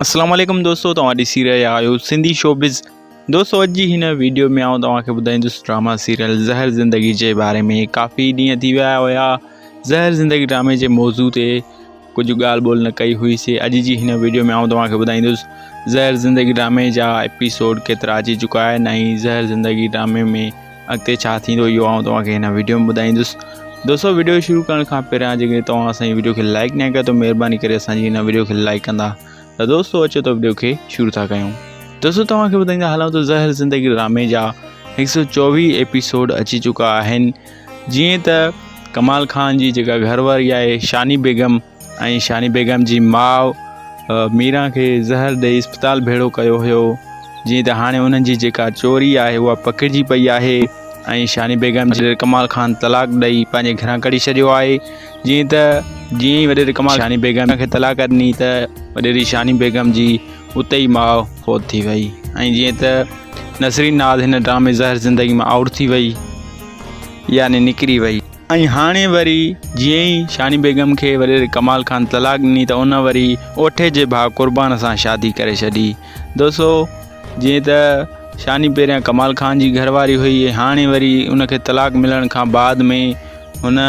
اسلام عليڪم دوستو توهان ڏسي رهيا آهيو سنڌي شوبز دوستو اڄ جي هن ويڊيو ۾ آئون توهان کي ٻڌائيندس ڊراما سيريل زهر زندگي جي باري ۾ ڪافي ڏينهن ٿي ويا هيا زهر زندگي ڊرامي جي موضوع تي ڪجهه ڳالهه ٻولهه نه ڪئي هئي سي اڄ جي هن ويڊيو ۾ آئون توهان کي ٻڌائيندس زهر زندگي ڊرامي جا ايپيسوڊ ڪيترا اچي چڪا آهن ۽ زهر زندگي ڊرامي ۾ اڳتي ڇا ٿيندو اهو آئون توهان کي هن ويڊيو ۾ ٻڌائيندس دوستو ويڊيو شروع ڪرڻ کان پهريان جيڪڏهن توهان اسان جي ويڊيو کي لائڪ نه ڪيو ته مهرباني ڪري اسان جي هن ويڊيو کي لائڪ ڪندا ته دوستو اچو ته ويڊيو کي شروع ٿا ڪيون دوستو توهان کي ٻڌائيندا هلون ته زهر زندگي ڊرامي جا هڪ سو چوويهه ايپيسوڊ اچي چڪا آهن جيئن ته ڪمال خان جي جيڪا گهر واري آهي شاني بيگم ۽ شاني بيگم جي ماء ميران کي زهر ڏئي اسپتال ڀيڙو ڪيو هيو جيئن ته هاڻي انهن جي جيڪا چوري آهي اها پڪڙجي پئي آهي ۽ شاني بيگم جي ڪمال خان طلاق ڏئي پنهنجي گهران ڪڍي ڇڏيو آهي جيئن ته جيئن ئي وڏيري ڪمال شاني بيگم کي طلاق ڏني ته وڏيري شاني بيگم جي اتي ئي ماء فوت ٿي وئي ۽ جيئن ته نسرين ناز هن ڊرامي زهر زندگي ۾ آئوٽ ٿي وئي يعني نڪري وئي ۽ هاڻي وري جيئن ئي شاني بيگم کي وريري ڪمال خان طلاق ڏني ته ان وري اوٺي جي ڀاء قربان سان شادي ڪري ڇڏي. دوستو جيئن ته شاني پهريان ڪمال خان جي گهر واري هئي ۽ هاڻي وري ان کي طلاق ملڻ کان بعد ۾ هن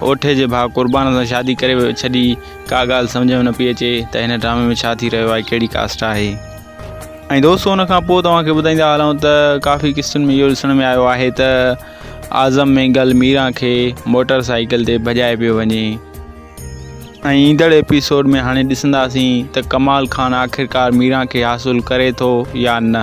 اوٺي جي ڀاء قربان سان شادي ڪري ڇڏي ڪا ڳالهه سمجهه ۾ نه پئي اچي ته هن ڊرامي ۾ ڇا ٿي رهيو آهي ڪهڙي ڪاسٽ آهي. ۽ دوستو ان کان پوء توهان کي ٻڌائيندا هلون ته ڪافي قسطن ۾ اهو ڏسڻ ۾ آيو آهي ته اعظم مينگل ميران کي موٽر سائيڪل تي ڀڄائي پيو وڃي ۽ ايندڙ ايپيسوڊ ۾ هاڻي ڏسنداسين ته ڪمال خان آخرڪار ميران کي حاصل ڪري ٿو يا نه